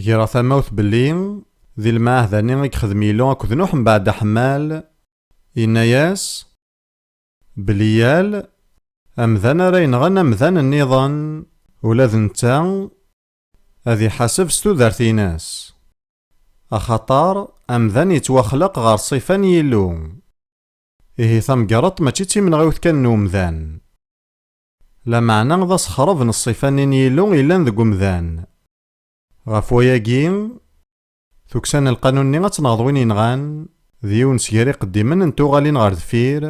Greɣ tamawt belli di lmeɛahda-nni i yexdem Yilu akked Nuḥ mbeɛd aḥemmal, yenna-yas belli yal amdan ara yenɣen amdan nniḍen, ula d netta Ad iḥaseb s tudert-ines. Axaṭer, amdan yettwaxleq ɣer ṣṣifa n Yillu. Ihi tamgerḍt mačči d timenɣiwt kan n umdan. Lameɛna d asexreb n ṣṣifa-nni n Yillu yellan deg umdan. Ɣef wayagi, tukksa n lqanun-nni ad tenɣeḍ win yenɣan, d yiwen sger iqeddimen n tuɣalin ɣer deffir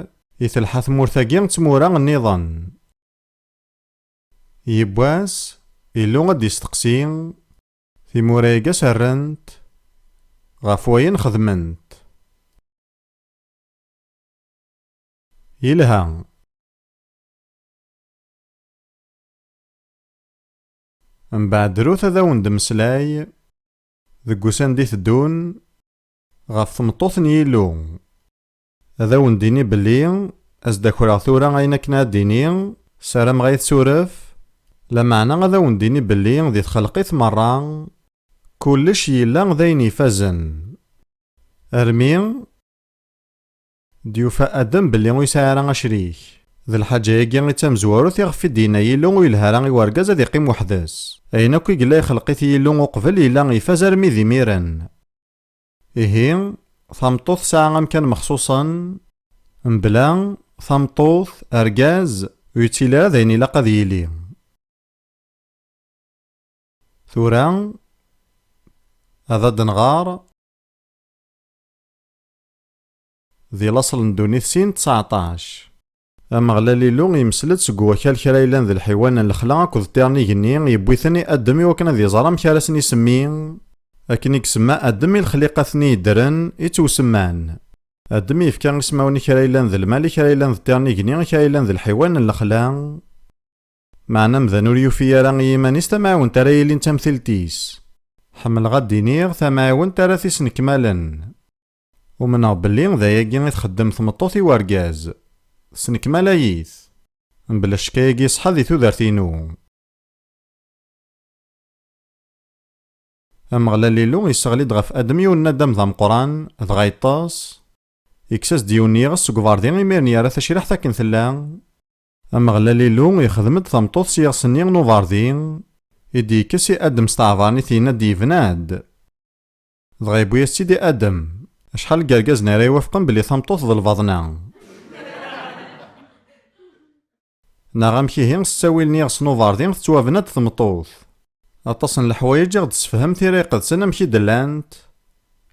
i telḥa tmurt-agi d tmura nniḍen. Yiwwas, Illu ad d-isteqsi timura-agi s rrent ɣef wayen xedment. Yelha. Mbeɛd drut ad awen-d-mmeslay deg usand i teddun ɣef tmeṭṭut n Yillu. Ad awen-d-ini belli ad s-d-akreɣ tura ayen akken ad d-ini, sarameɣ ad yi-tessuref, lameɛna ad awen-d-ini belli di txelqit merra, kullec yella d ayen ifazen, armi d-yufa Adem belli ur yesɛi ara acrik. D lḥaǧa-agi i d tamezwarut iɣef i d-yenna Yillu ur yelha ara i wergaz ad iqqim weḥd-s. Ayen akk i yella ixelq-it Yillu uqbel yella ifaz armi d imiren. Ihi, tameṭṭut tesɛa amkan mexṣuṣen, mebla tameṭṭut, argaz, ur yettili ara d ayen ilaq ad yili. Tura, ad d-nɣer, di laṣel n ddunit sin d tseɛṭac. Ameɣlal Illu yemsel-d seg wakal kra yellan d lḥiwan n lexla akked ṭṭir n igenni, yewwi-ten i Adem i wakken ad iẓer amek ara sen-isemmi. Akken i isemma Adem i lexliqat-nni yeddren, i ttewsemman. Adem yefka ismawen i kra yellan d lmal, i kra yellan d ṭṭir n igenni, i kra yellan d lḥiwan n lexla. Meɛna amdan ur yufi ara i yiman-is tamɛiwent ara yilin d tamtilt-is. Ḥemmleɣ ad d-iniɣ, tamɛiwent ara t-isnekmalen. Umneɣ belli d ayagi i txeddem tmeṭṭut i wergaz. Tesnekmal-ay-it. Mebla ccek ayagi iṣeḥḥa di tudert-inu. Ameɣlal Illu yesseɣli-d ɣef Adem yiwen n nadam d ameqqran, dɣa yeṭṭes, yekkes-as-d yiwen n yiɣes seg uberḍi imir-n yerra tacriḥt akken tella, Ameɣlal Illu yexdem-d tameṭṭut s yiɣes-nni n uberḍi i d-yekkes i Adem s tɛebaṛnit yenna-d yebna-d. Dɣa yewwi-yas-tt-id i Adem. Acḥal n yergazen ara iwafqen belli tameṭṭut d lbaḍna? Neɣ amek ihi, s ttawil n yiɣes n uberḍi, tettwabna-d tmeṭṭut? Aṭas n leḥwayeǧ i ɣ-d-tessefhem Tira Iqedsen amek i d-llant.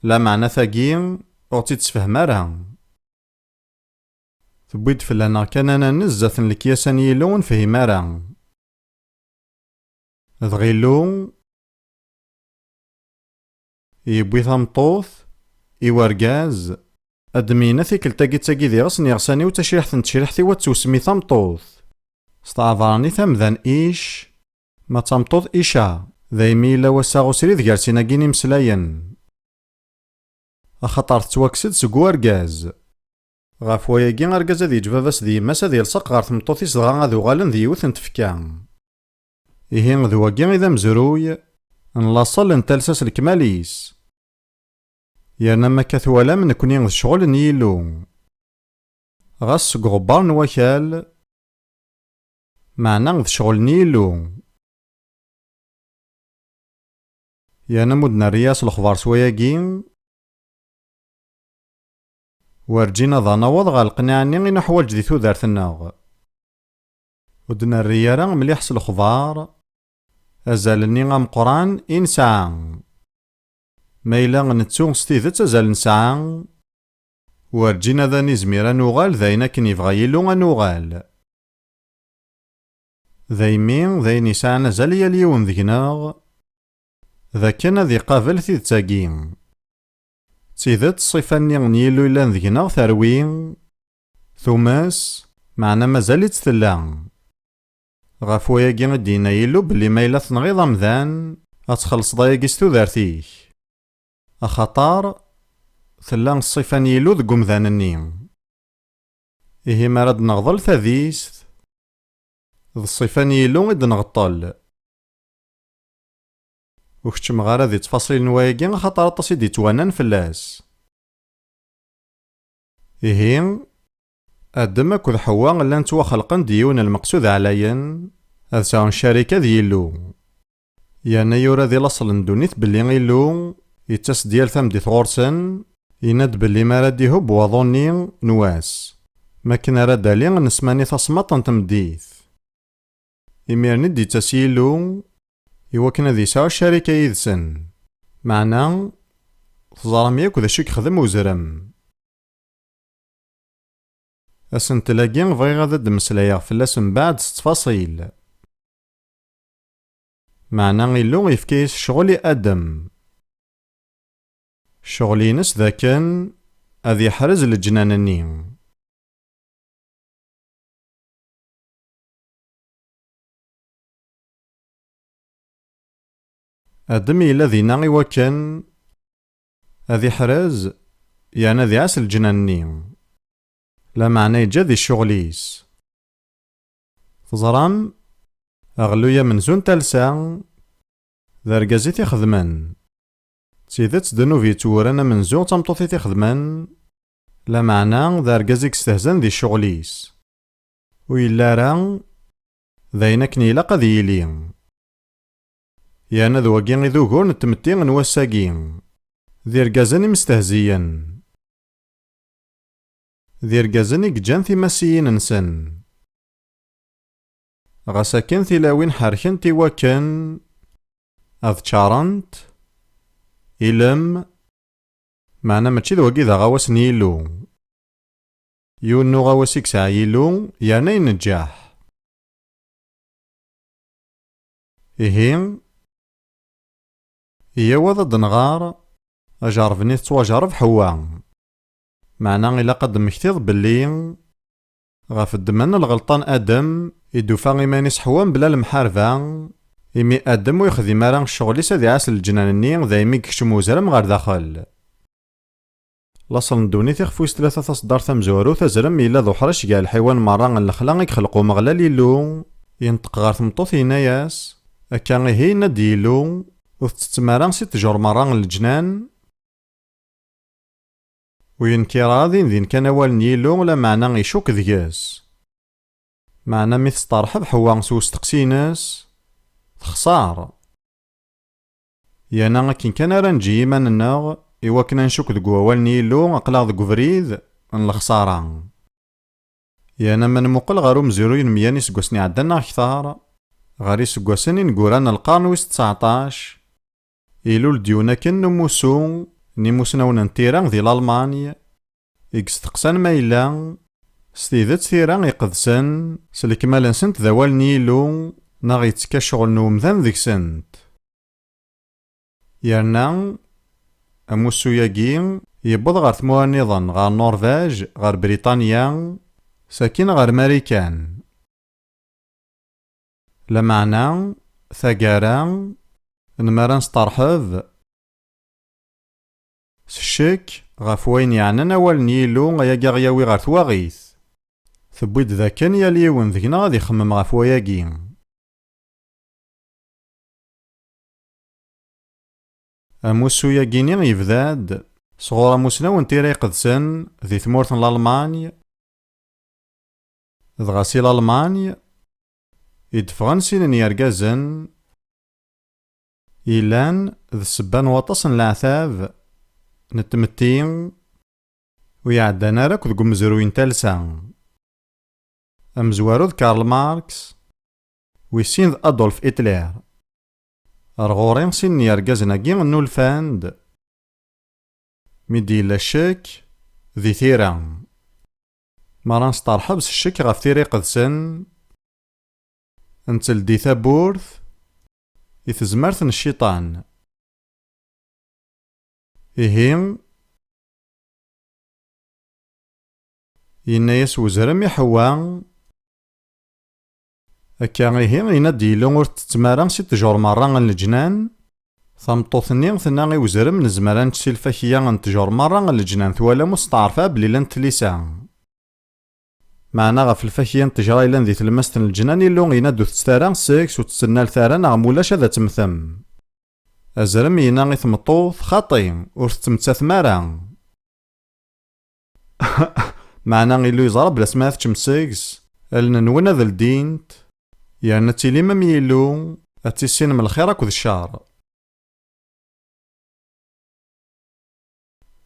Lameɛna tagi, ur ɣ-tt-id-tessefhem ara. Tewwi-d fell-aneɣ kan ad nanez zdat n lekyasa n Yillu ur nefhim ara. Dɣ Illu? Yewwi tameṭṭut, i wergaz, ad d-myina tikkelt-agi d tagi di ɣes n iɣsan-iw d tacriḥt n tecriḥt-iw ad tewsem i tameṭṭut. S tɛebṛanit amdan ic, ma d tameṭṭut ica. Daymi yella wassaɣ usrid gar sin-agi n imeslayen. Axaṭer tettwakkes-d seg wergaz. Ɣef wayagi argaz ad yeǧǧ baba-s d yemma-s ad yelṣeq ɣer tmeṭṭut-is dɣa ad uɣalen d yiwet n tfekka. Ihi d wagi i d amezruy n laṣel n talsa s lekmal-is. Yerna ma akka twalam nekni d ccɣel n Yillu. Ɣas seg uɣebbar n wakal, meɛna d ccɣel n Yillu. Yerna m'ur d-nerri as lexbar s wayagi, werǧin ad anaweḍ ɣer leqnaɛ-nni i nuḥwaǧ di tudert-nneɣ. Ur d-nerri ara mliḥ s lexbar azal-nni ameqqran i nesɛa. Ma yella nettu s tidet azal nesɛa, werǧin ad nizmir ad nuɣal d ayen akken yebɣa Yillu ad nuɣal. Daymi, d ayen yesɛan azal i yal yiwen deg-neɣ, d akken ad iqabel tidet-agi. D tidet, ṣṣifa-nni n Yillu yellan deg-neɣ terwi, Tumas, meɛna mazal-itt tella. Ɣef wayagi i d-yenna Yillu belli ma yella tenɣiḍ amdan, ad txellṣeḍ ayagi s tudert-ik. Axaṭer, tella ṣṣifa n Yillu deg umdan-nni. Ihi mi ara d-neɣḍel tadist, d ṣṣifa n Yillu i d-nɣeṭṭel. Ur keččmeɣ ara di ttfaṣil n wayagi axaṭer aṭas i d-yettwanan fell-as. Ihi, Adem akked Ḥewwa llan ttwaxelqen-d i yiwen n lmeqsud ɛlayen, ad sɛun ccarika d Yillu. Yerna yura di laṣel n ddunit belli Illu yettas-d yal tameddit ɣur-sen, yenna-d belli mi ara d-ihubb waḍu-nni n wass, mi akken ara d-ali nesmani taṣmaḍt n tmeddit. Imiren i d-yettas Yillu i wakken ad yesɛu ccarika yid-sen. Meɛna, teẓram yakk d acu i yexdem uzrem. Asentel-agi bɣiɣ ad d-mmeslayeɣ fell-as mbeɛd s ttfaṣil. Meɛna Illu yefka-yas ccɣel i Adem. Ccɣel-ines d akken ad yeḥrez leǧnan-nni. Adam yella dinna i wakken ad iḥrez yerna ad iɛas lǧenna-nni, lameɛna yeǧǧa di ccuɣel-is. Teẓram, aɣelluy amenzu n talsa, d argaz i t-ixedmen. D tidet ddnub yettwuran amenzu d tameṭṭut i t-ixedmen, lameɛna d argaz i yestehzan di ccuɣel-is. Ur yelli ara d ayen akken ilaq ad yili. Yerna d wagi i d ugur n tmetti n wass-agi, d irgazen imestehziyen, d irgazen i yeǧǧan timasiyin-nsen. Ɣas akken tilawin ḥerkent i wakken ad ččarent ilem, meɛna mačči d wagi i d aɣawas n Yillu. Yiwen n uɣawas i yesɛa Yillu, yerna inejjaḥ. Ihi, yyaw ad d-nɣer ajerreb-nni tettwajerreb Ḥewwa. Meɛna ilaq ad d-temmektiḍ belli ɣef ddemma n lɣelṭa n Adem i d-tufa iman-is Ḥewwa mebla lemḥarba, imi Adem ur yexdim ara ccɣel-is ad iɛas leǧnan-nni daymi yekcem uzrem ɣer daxel. Laṣel n ddunit ixef wis tlata Taṣeddart tamezwarut Azrem yella d uḥric gar lḥiwan merra n lexla i yexleq Umeɣlal Illu Yenṭeq ɣer tmeṭṭut yenna-as Akka ihi yenna-d Yillu Ur tettettem ara si ṭṭjur merra n leǧnan Ur yenkir ara din din kan awal n Yillu Lameɛna icukk deg-s Meɛna mi tesṭerḥeb Ḥewwa s usteqsi-ines Texṣer. Yerna akken kan ara neǧǧi iman-nneɣ i wakken ad ncukk deg wawal n Yillu, aql-aɣ deg ubrid n lexṣara. Yerna ma nemmuqqel ɣer umezruy n meyya n yiseggasen iɛeddan neɣ kter, ɣer yiseggasen ineggura n lqern wis ţţeɛṭac, ilul-d yiwen akken n umussu n yimussnawen n tira di Lalmany, i yesteqsan ma yella s tidet tira iqedsen s lekmal-nsent d awal n Yillu neɣ yettekka ccɣel n umdan deg-sent. Yerna, amussu-agi yewweḍ ɣer tmura nniḍen, ɣer Norvège, ɣer Briṭanya, sakin ɣer Marikan. Lameɛna, taggara, n mi ara nesṭerḥeb, S ccekk, ɣef wayen yeɛnan awal n Yillu ayagi ad ɣ-yawi ɣer twaɣit. Tewwi-d d akken yal yiwen deg-neɣ ad ixemmem ɣef wayagi. Amussu-yagini yebda-d sɣur amussnaw n tira iqedsen di tmurt n Lalmany, dɣa si Lalmany i d-ffɣen sin n yergazen, yellan d ssebba n waṭas n leɛtab n tmetti ur iɛeddan ara akk deg umezruy n talsa. Amezwaru d Karl Marx, wis sin d Adolf Hitler. Ar ɣur-i sin n yergazen-agi nnulfan-d mi d-yella ccek di tira. Mi ara nesṭerḥeb s ccek ɣef tira iqedsen, netteldi tawwurt I tezmert n cciṭan. Ihi, yenna-yas wezrem i Ḥewwa, Akka ihi, yenna-d Yillu, ur ttettem ara si ṭṭjur merra n leǧnan? Tameṭṭut-nni tenna i wezrem, Nezmer ad nečč si lfakya n ṭṭjur merra n leǧnan. Twalam ur steɛref ara belli llant tlisa. Meɛna ɣef lfakya n tejra yellan di tlemmast n leǧnan, Illu yenna-d ur teţţet ara seg-s, ur ţţennalet ara neɣ ma ulac ad temmtem. Azrem yenna i tmeṭṭut, Xaṭi, ur teţţemttatem ara. Meɛna Illu yeẓra belli asmi ara teččem seg-s, allen-nwen ad ldint, yerna ad tilim am Yillu, ad tissinem lxir akked cceṛ.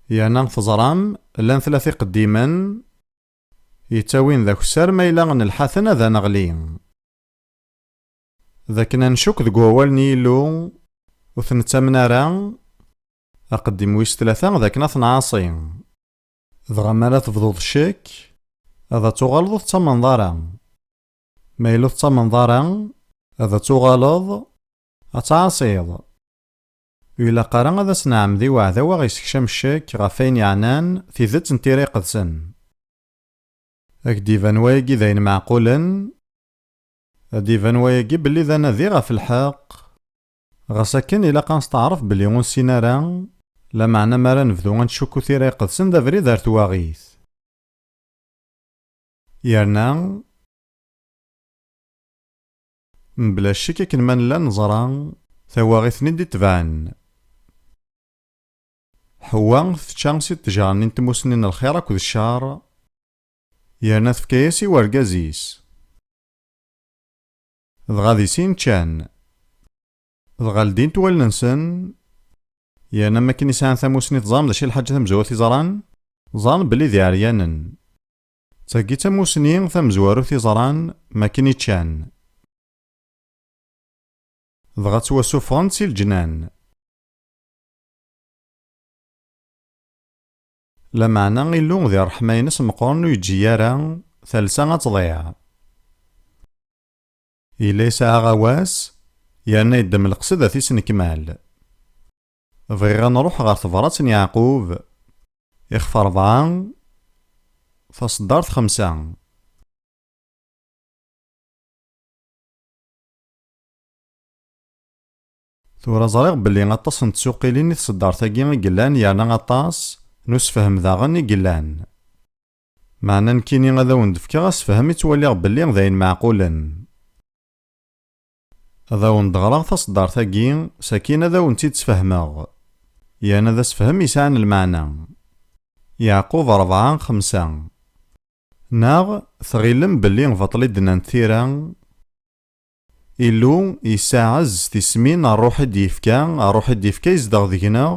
Yerna teẓram llan tlata iqeddimen yettawin d akessar ma yella nelḥa-ten ad aneɣli. D akken ad ncukk deg wawal n Yillu ur t-nettamen ara, aqeddim wis tlata d akken ad t-nɛaṣi. Dɣa m'ara tebduḍ ccekk ad tuɣaleḍ ur tettamneḍ ara. Ma yella ur tettamneḍ ara ad tuɣaleḍ ad tɛaṣiḍ. Ur ilaq ara ad as-nɛemmed i uɛdaw a ɣ-yessekcam ccek ɣef wayen yeɛnan tidet n Tira Iqedsen. A k-d-iban wayagi d ayen meɛqulen, ad d-iban wayagi belli d anadi ɣef lḥeqq, ɣas akken ilaq a nesteɛref belli ur nessin ara, lameɛna mi ara nebdu a nettcukku Tira Iqedsen d abrid ar twaɣit. Yerna. Mebla ccek akken ma nella neẓra tawaɣit-nni d-itebɛen. Ḥewwa tečča si ṭṭejra-nni n tmussni n lxir akked ccer, yerna tefka-yas i wergaz-is. Dɣa di sin ččan. Dɣa ldint wallen-nsen, yerna mi akken i sɛan tamussni teẓram d acu i lḥaǧa tamezwarut i ẓran, ẓran belli d iɛeryanen. Tagi d tamusni tamezwarut i ẓran makken i ččan. Dɣa ttwasuffɣen si leǧnan. Lameɛna Illu di ṛṛeḥma-ines meqqren ur yeǧǧi ara talsa ad tḍiɛ. Yella yesɛa aɣawas yerna yeddem leqsed ad t-isnekmal. Bɣiɣ ad nruḥ ɣer tebṛat n Yeɛqub, ixef rebɛa, taṣeddart xemsa. Tura ẓriɣ belli aṭas n tsuqilin i tṣeddart-agi i yellan yerna aṭas n usefhem daɣen i yellan. Meɛna nekkini ad awen-d-fkeɣ asefhem i ttwaliɣ belli d ayen meɛqulen. Ad awen-d-ɣreɣ taṣeddart-agi, sakin ad awen-tt-id-sfehmeɣ. Yerna d asefhem yesɛan lmeɛna. Yeɛqub ṛebɛa, xemsa. Neɣ tɣilem belli baṭel i d-nnant tira? Illu yessaɛez s tismin, ṛṛuḥ i d-yefka, ṛṛuḥ i d-yefka yezdeɣ deg-neɣ.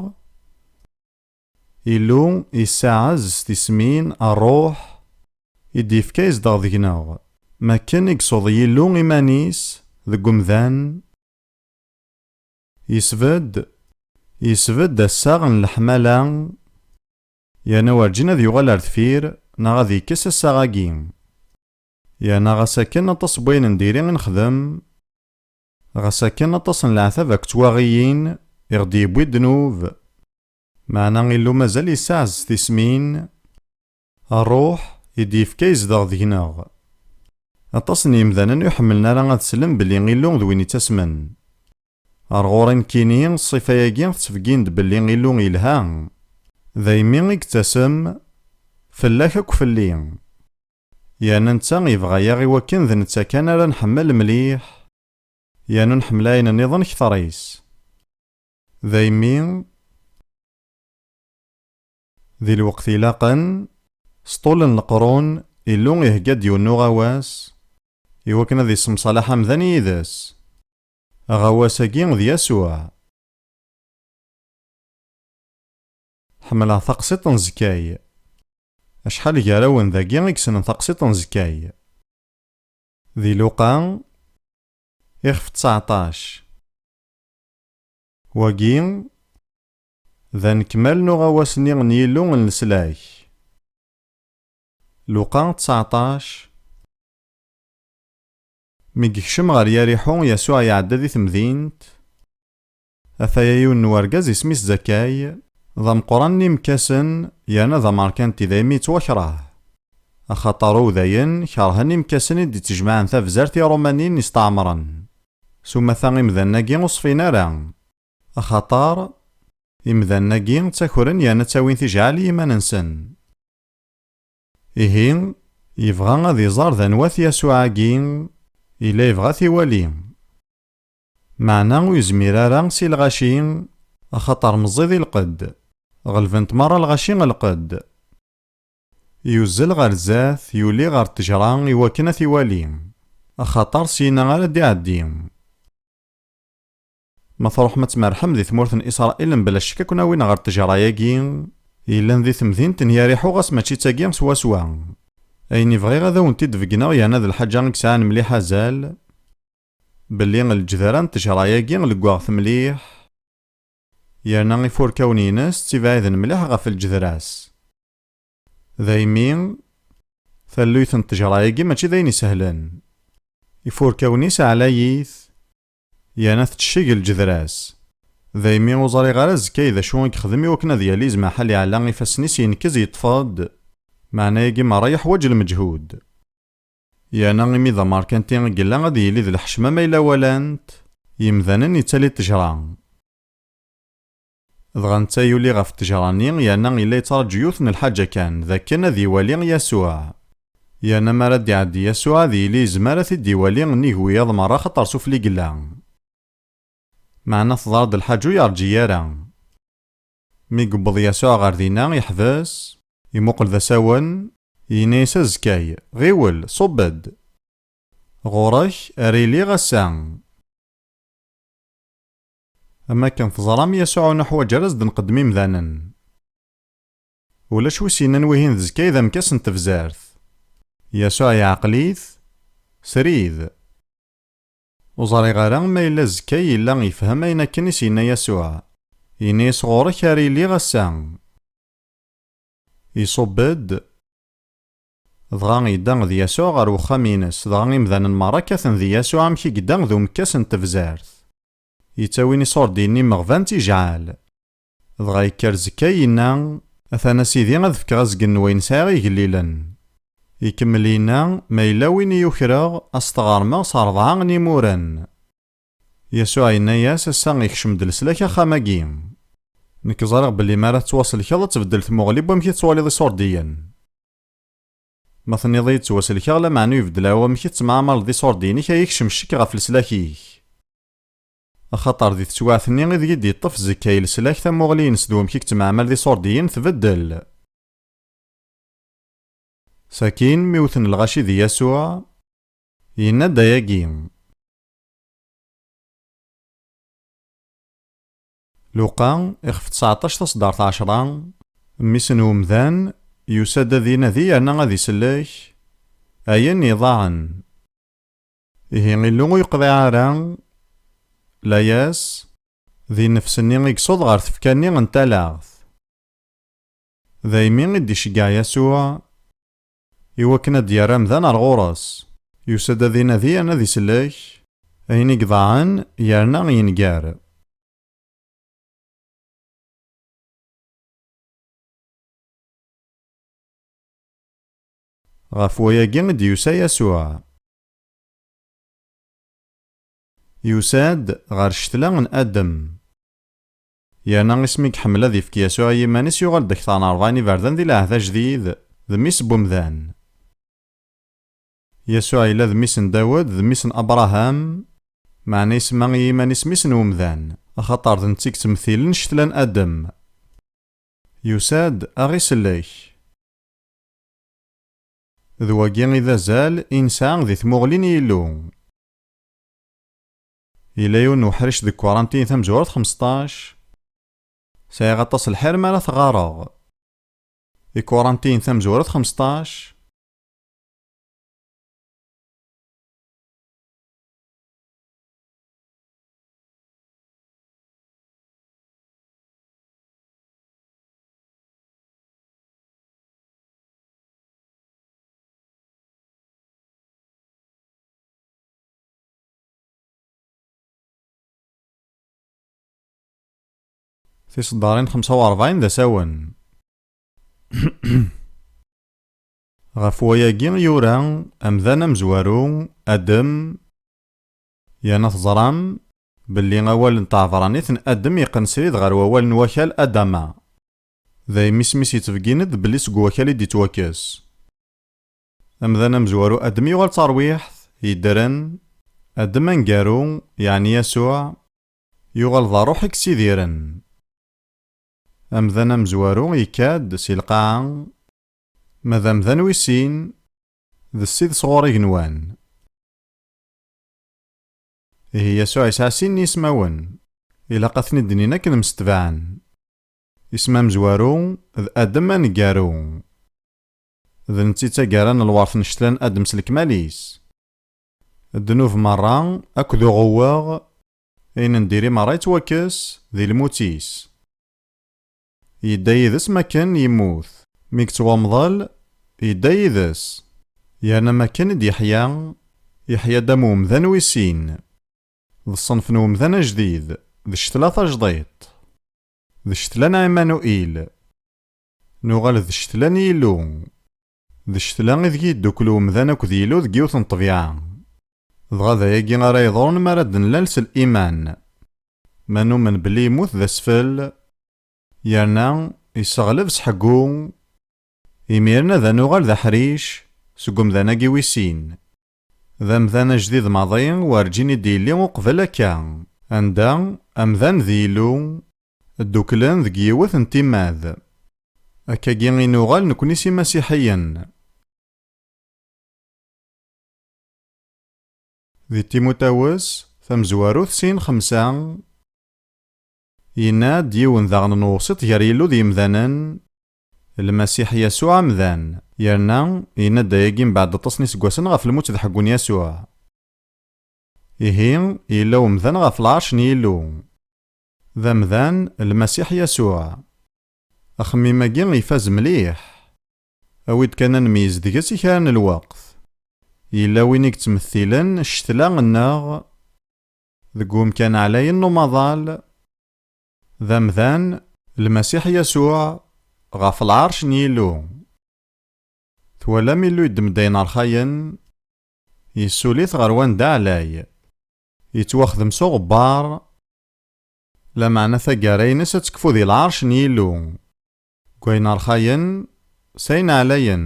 Illu yessaɛez s tismin, Ṛṛuḥ, i d-yefka izdeɣ deg-neɣ. M akken i ysuḍ Yillu iman-is deg umdan, yesbedd, yesbedd assaɣ n leḥmala, yerna werǧin ad yuɣal ar deffir neɣ ad yekkes assaɣ-agi. Yerna ɣas akken aṭas n wayen n diri i nexdem, ɣas akken aṭas n leɛtab akked twaɣiyin i ɣ-d-yewwi ddnub, Meɛna Illu mazal yessaɛez tismin, Ṛṛuḥ i d-yefka yezdeɣ deg-neɣ. Aṭas n yemdanen ur ḥemmlen ara ad slen belli Illu d win ittasmen. Ar ɣur-i nekkini, ṣṣifa-agi tettbeggin-d belli Illu yelha, daymi i yettasem, fell-ak akk fell-i. Yerna netta yebɣa-yaɣ iwakken d netta kan ara nḥemmel mliḥ, yernu nḥemmel ayen nniḍen kter-is. Daymi, di lweqt ilaqen, s ṭul n leqrun, Illu ihegga-d yiwen n uɣawas i wakken ad issemṣalaḥ amdan yid-s. Aɣawas-agi d Yasuɛ. Ḥemmleɣ taqsiḍt n Zekkay. Acḥal gar-awen dagi i yessnen taqsiḍt n Zekkay? Di Luqa, ixef ţaɛṭac. Wagi, d anekmal n uɣawas-nni n Yillu n leslak. Luqa tseɛṭac, Mi yekcem ɣer Yariḥu, Yasuɛ iɛedda di temdint. Ataya yiwen n wergaz isem-is Zakkay, d ameqqran n yimekkasen yerna d amerkanti, daymi yettwakreh. Axaṭer Uwdayen kerhen imekkasen i d-ittjemɛen tabzert Iṛumanin isteɛmren. S umata imdanen-agi ur ṣfin ara, axaṭer imdanen-agi ttakren yerna ttawin tijɛal i yiman-nsen. Ihi, yebɣa ad iẓer d anwa-t Yasuɛ-agi yella yebɣa ad t-iwali. Meɛna ur yezmir ara si lɣaci, axaṭer meẓẓi di lqedd, ɣelben-t merra lɣaci ɣer lqedd. Yuzzel ɣer zdat, yuli ɣer ttejra i wakken ad t-iwali, axaṭer syinna ara d-iɛeddi. Ma truḥem ad tmerrḥem di tmurt n Isṛail mebla ccek ad ken-awin ɣer ttejra-agi yellan di temdint n Yariḥu ɣas mačči d tagi swaswa. Ayen i bɣiɣ ad awen-t-id-beggneɣ yerna d lḥaǧa i yesɛan mliḥ azal, belli lejdar-a n ttejra-agi leggaɣ-t mliḥ, Yerna ifurkawen-ines ttibɛiden mliḥ ɣef lǧedra-s. Daymi, talluyt n ṭṭejra-agi mačči d ayen isehlen. Ifurkawen-is ɛlayit, yerna tecceg lǧedra-s. Daymi ur ẓriɣ ara zkay d acu i yexdem iwakken ad yali zmaḥal iɛla ifassen-is yenkez yeṭṭef-d, meɛna agi merra yeḥwaǧ lmeǧhud. Yerna imi d amerkanti i yella ad yili d lḥecma ma yella walan-t yemdanen yettali ṭṭejra. Dɣa netta yuli ɣef ṭṭejra-nni yerna yella yettṛaǧu yiwet n lḥaǧa kan, d akken ad iwali Yasuɛ. Yerna mi ara d-iɛeddi Yasuɛ ad yili yezmer ad t-id-iwali nnig wiyaḍ merra axaṭer sufella i yella. Meɛna teḍra-d lḥaǧa ur yeṛǧi ara. Mi yewweḍ Yasuɛ ɣer dinna, yeḥbes, imuqel d asawen, yenna-yas azekka-y, Ɣiwel, ṣubb-d! Ɣur-k ara iliɣ ass-a. Am wakken teẓram, Yasuɛ ur nuḥwaǧ ara ad s-d-nqeddem imdanen. Ulac wi s-yennan wihin d zkay d amekkas n tebzert. Yasuɛ yeɛqel-it srid. Ur ẓriɣ ara ma yella azekka yella yefhem ayen akken i s-yenna Yasuɛ. Yenna-yas ɣur-k ara iliɣ ass-a. Iṣubb-d. Dɣa yedda d Yasuɛ ɣer wexxam-ines, dɣa imdanen merra kkaten di Yasuɛ amek i yedda d umekkas n tebzert. Yettawin iṣurdiyen n yimeɣban d tijɛal. Dɣa yekker Zekkay yenna, Atan a Sidi ad fkeɣ azgen n wayen sɛiɣ igellilen. Ikemmel yenna, Ma yella win i ukreɣ, a s-t-ɣermeɣ s rebɛa n yimuren. Yasuɛ yenna-yas, Ass-a ikcem-d leslak axxam-agi. Nekk ẓriɣ belli mi ara tettwaselkeḍ ad tbeddel tmuɣli n wamek i tettwaliḍ Iṣurdiyen. Ma tenniḍ-iyi-d ttwaselkeɣ, lameɛna ur ibeddel ara wamek i tettemɛamaleḍ d Iṣurdiyen-ik, ad yekcem ccek ɣef leslak-ik. Axaṭer di teswiɛt-nni ideg i d-yeṭṭef Zekkay leslak, tamuɣli-ines d wamek i yettemɛamal d iṣurdiyen tbeddel. Sakin, mi wten lɣaci di Yasuɛ, yenna-d ayagi, Luqa, ixef ţseɛṭac taṣeddart ɛecra, mmi-s n umdan, yusa-d ad inadi yerna ad isellek ayen iḍaɛen. Ihi Illu ur yeqḍiɛ ara layas di nnefs-nni i yessuḍ ɣer tfekka-nni n talaɣt. Daymi i d-iceggeɛ Yasuɛ i wakken ad d-yerr amdan ar ɣur-s. Yusa-d ad inadi yerna ad isellek ayen i iḍaɛen yerna yenger. Ɣef wayagi i d-yusa Yasuɛ. Yusa-d ɣer ccetla n Adem. Yerna isem i iḥemmel ad ifk Yasuɛ i yiman-is yuɣal-d akteṛ n ṛebɛin iberdan di Lɛehd Ajdid, d mmi-s n wemdan. Yasuɛ yella d mmi-s n Dawed, d mmi-s n Abṛaham, meɛna isemma i yiman-is mmi-s n wemdan, axaṭer d netta i yettmettilen ccetla n Adem. Yusa-d a ɣ-isellek. D wagi i d azal i nesɛa di tmuɣli n Yillu. Yella yiwen n uḥric deg Kuṛantin tamezwarut xmesṭac, Sɛiɣ aṭas lḥir mi ara t-ɣareɣ. I Kuṛantin tamezwarut xmesṭac. Tiseddarin xemsa u rebɛin d asawen. Ɣef wayagi i yura amdan amezwaru Adem yerna teẓram belli awal n tɛebranit n Adem yeqqen srid ɣer wawal n wakal Adama. Dayem isem-is yettbeggin-d belli seg wakal i d-yettwakkes. Amdan amezwaru Adem yuɣal d tarwiḥt yeddren, Adem aneggaru, yeɛni Yasuɛ, yuɣal d ṛṛuḥ i yessidiren. Amdan amezwaru yekka-d si lqaɛa, ma d amdan wis sin, d Ssid sɣur igenwan. Ihi Yasuɛ yesɛa sin n yismawen, ilaq ad ten-id-inin akken msetbaɛen. Isem amezwaru d Adem aneggaru. D netta i d taggara n lwert n ccetla-n Adem s lekmal-is. Ddnub merra akked uɣewweɣ, ayen n diri merra yettwakkes di lmut-is. Yedda yid-s makken yemmut. Mi yeţţ wamḍel, yedda yid-s. Yerna makken i d-yeḥya, yeḥya-d am umdan wis sin. D ṣṣenf n umdan ajdid, d ccetla tajdiṭ. D ccetla n Ɛimanuil. Nuɣal d ccetla n Yillu. D ccetla ideg yeddukkel umdan akked Yillu deg yiwet n ṭṭbiɛa. Dɣa d ayagi ara yeḍrun mi ara d-nlal s liman. Ma numen belli yemmut d asfel, yerna yesseɣleb s ḥeggu, imiren ad nuɣal d aḥric seg umdan-agi wis sin. D amdan ajdid maḍi, werǧin i d-yelli uqbel akka. Anda, amdan d Yillu, dduklen deg yiwet n timmad. Akkagi i nuɣal nekni s imasiḥiyen. Di Timutawes tamezwarut sin xemsa, yenna-d yiwen daɣen n uwsiṭ gar Yillu d yemdanen, Lmasiḥ Yasuɛ amdan. Yerna, yenna-d ayagi mbeɛd aṭas n iseggasen ɣef lmut d ḥeggu n Yasuɛ. Ihi, yella umdan ɣef lɛerc n Yillu. D amdan, Lmasiḥ Yasuɛ. Axemmim-agi ifaz mliḥ. Awi-d kan ad nmeyyez deg-s i kra n lweqt. Yella win i yettmettilen ccetla-nneɣ deg umkan ɛlayen n umaḍal. D amdan, Lmasiḥ Yasuɛ, ɣef lɛerc n Yillu. Twalam Illu yeddem-d ayen rxayen, yessuli-t ɣer wanda ɛlay. Yettwaxdem s uɣebbar, lameɛna taggara-ines ad tekfu di lɛerc n Yillu, deg wayen rxayen s ayen ɛlayen.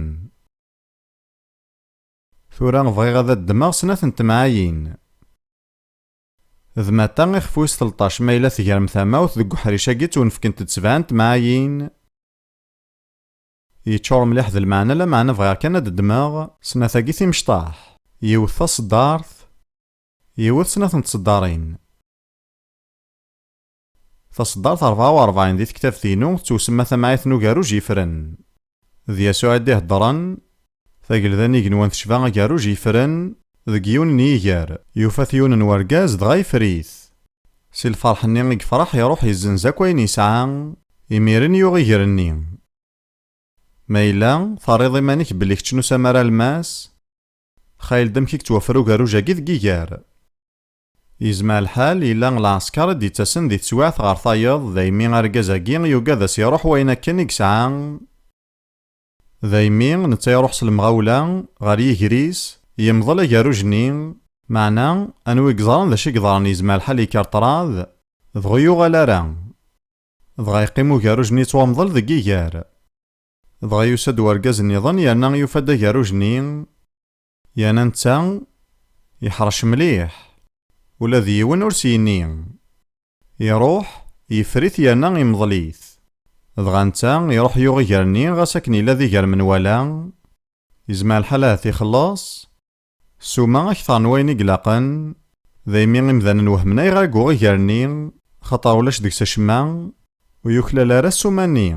Tura bɣiɣ ad d-ddmeɣ snat n temɛayin. D mata ixef wis telṭac ma yella tegrem tamawt deg uḥric-agi ttwenfkent-d sebɛa n temɛayin. Yeččur mliḥ d lmeɛna lameɛna bɣiɣ kan ad d-ddmeɣ. Snat-agi timecṭaḥ. Yiwet taṣeddart. Yiwet snat n tṣeddarin. Taṣeddart ṛebɛa u ṛebɛin di tektabt-inu tettwsemma Tamɛayt n ugerruj yefren. D Yasuɛ i d-iheddṛen. Tagelda n igenwan tecba agerruj yefren. Deg yiwen n yiger, yufa-t yiwen n wergaz dɣa ifer-it. Si lfeṛḥ-nni i yefṛeḥ iṛuḥ yezzenz akk ayen yesɛa, imiren yuɣ iger-nni. Ma yella terriḍ iman-ik belli kečč n usamar almas, xayel-d amek i yettwafra ugerruj-agi deg yiger. Yezmer lḥal yella lɛesker i d-yettasen di teswiɛt ɣer tayeḍ, daymi argaz-agi yugad a s-iruḥ wayen akken i yesɛa, daymi netta iruḥ s lemɣawla ɣer yiger-is, yemḍel agerruj-nni. Meɛna, anwa i yeẓran d acu i yeḍran yezmer lḥal yekker ṭṭrad, dɣa ur yuɣal ara. Dɣa yeqqim ugerruj-nni yettwamḍel deg yiger. Dɣa yusa-d urgaz-nniḍen yerna yufa-d agerruj-nni. Yana netta yeḥṛec mliḥ, ula d yiwen ur s-yenni. Iṛuḥ, yeffer-it yerna imḍel-it. Dɣa netta iṛuḥ yuɣ iger-nni ɣas akken yella d iger menwala, yezmer lḥal ahat ixelleṣ ssuma akteṛ n wayen i ilaqen, daymi imdanen wehmen ayɣer i yuɣ iger-nni axaṭer ulac deg-s acemma ur yuklal ara ssuma-nni.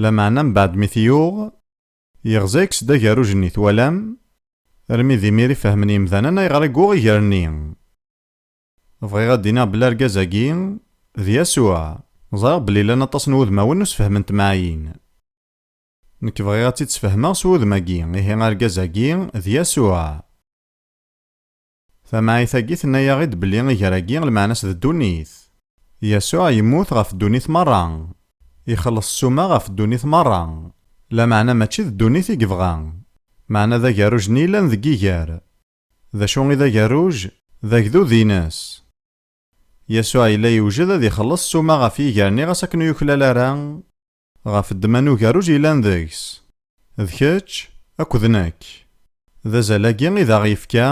Lameɛna mbeɛd mi t-yuɣ. Yeɣza-yak-s-d agerruj-nni, twalam? Armi d imir i fehmen yemdanen ayɣer i yuɣ iger-nni. Bɣiɣ ad d-iniɣ belli argaz-agi, d Yasuɛ. Ẓriɣ belli llan aṭas n wudmawen ur sfehhmen temɛayin. Nekk bɣiɣ ad tt-id-sfehmeɣ s wudem-agi, ihi argaz-agi, d Yasuɛ. Tamɛayt-agi tenna-yaɣ-id belli iger-agi lmeɛna-s d ddunit. Yasuɛ yemmut ɣef ddunit meṛṛa. Ixelleṣ ssuma ɣef ddunit meṛṛa. Lameɛna mačči d ddunit i yebɣa. Meɛna d agerruj-nni yellan deg iger. D acu i d agerruj? D agdud-ines. Yasuɛ yella yewjed ad ixelleṣ ssuma ɣef yiger-nni ɣas akken ur yuklal ara. Ɣef ddemma n ugerruj yellan deg-s. D kečč akked nekk. D azal-agi i d aɣ-yefka,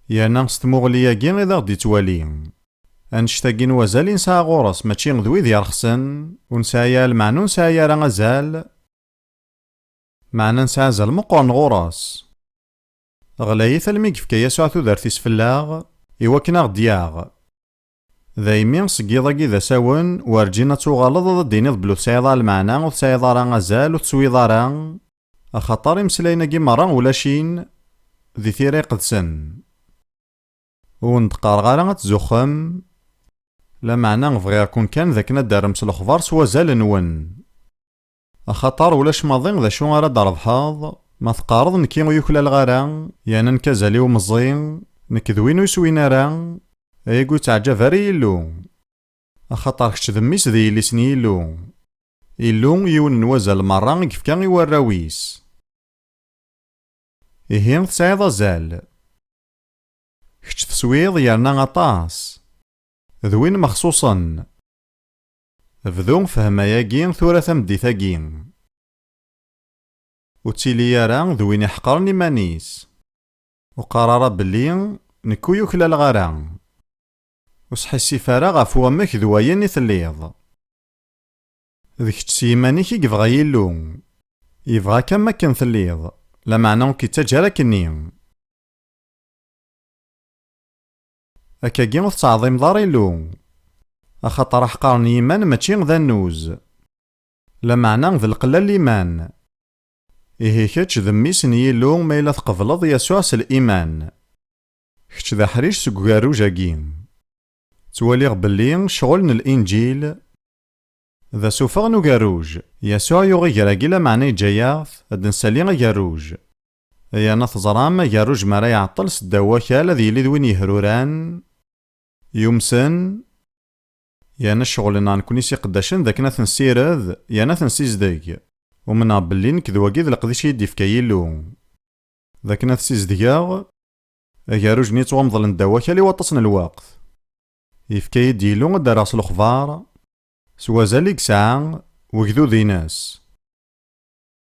yerna s tmuɣli-agi i d aɣ-d-yettwali. Annect-agi n wazal i nesɛa ɣur-s mačči d wid yerxsen, ur nesɛi ara lmeɛna ur nesɛi ara azal, meɛna nesɛa azal meqqren ɣur-s. Ɣlayit almi i yefka Yasuɛ tudert-is fell-aɣ, iwakken aɣ-d-yaɣ. Daymi, seg yiḍ-agi d asawen, werǧin ad tuɣaleḍ ad d-tiniḍ belli ur tesɛiḍ ara lmeɛna, ur tesɛiḍ ara azal, ur teswiḍ ara, axaṭer imeslayen-agi merra ulac-in di tira iqedsen. Ur wen-d-qqareɣ ara ad tzuxxem, lameɛna bɣiɣ-ken kan d akken ad d-terrem s lexbar s wazal-nwen. Axaṭer ulac maḍi d acu ara d-trebḥeḍ ma teqqareḍ nekki ur yuklaleɣ ara, yerna nekk azal-iw meẓẓi, nekk d win ur swin ara, ayagi ur ttaɛǧab ara i Yillu. Axaṭer kečč d mmi-s d yelli-s n Yillu. Illu, yiwen n wazal merra i yefka i warraw-is. Ihi, tesɛiḍ azal. Kečč teswiḍ yerna aṭas. D win mexṣuṣen. Bdu fhem ayagi tura tameddit-agi. Ur ttili ara d win iḥeqren iman-is. Ur qqar ara belli nekk ur yuklaleɣ ara. Ur sḥissif ara ɣef wamek d wayen i telliḍ. D kečč s yiman-ik i yebɣa Yillu. Yebɣa-k am wakken telliḍ, lameɛna ur k-ittaǧǧa ara akkenni. Akkagi ur tettɛeḍḍimeḍ ara Illu. Axaṭer aḥqar n yiman mačči d annuz. Lameɛna d lqella n liman. Ihi kečč d mmi-s n Yillu ma yella tqebleḍ Yasuɛ s liman. Kečč d aḥric seg ugerruj-agi. Ttwaliɣ belli ccɣel n Linǧil d asufeɣ n ugerruj. Yasuɛ yuɣ iger-agi lameɛna yeǧǧa-yaɣ-t ad d-nsali agerruj. Yan ad teẓram, agerruj mi ara iɛeṭṭel s ddaw wakal ad yili d win yehruran, yumsen, yerna ccɣel-nneɣ nekkni s iqeddacen d akken ad t-nessired yerna ad t-nsizdeg. Umneɣ belli nekk d wagi d leqdic i yi-d-yefka Yillu, d akken ad t-sizdgeɣ. Agerruj-nni yettwamḍlen ddaw wakal i waṭas n lweqt. Yefka-yi-d Yillu ad d-rreɣ s lexbar, s wazal i yesɛa, wegdud-ines.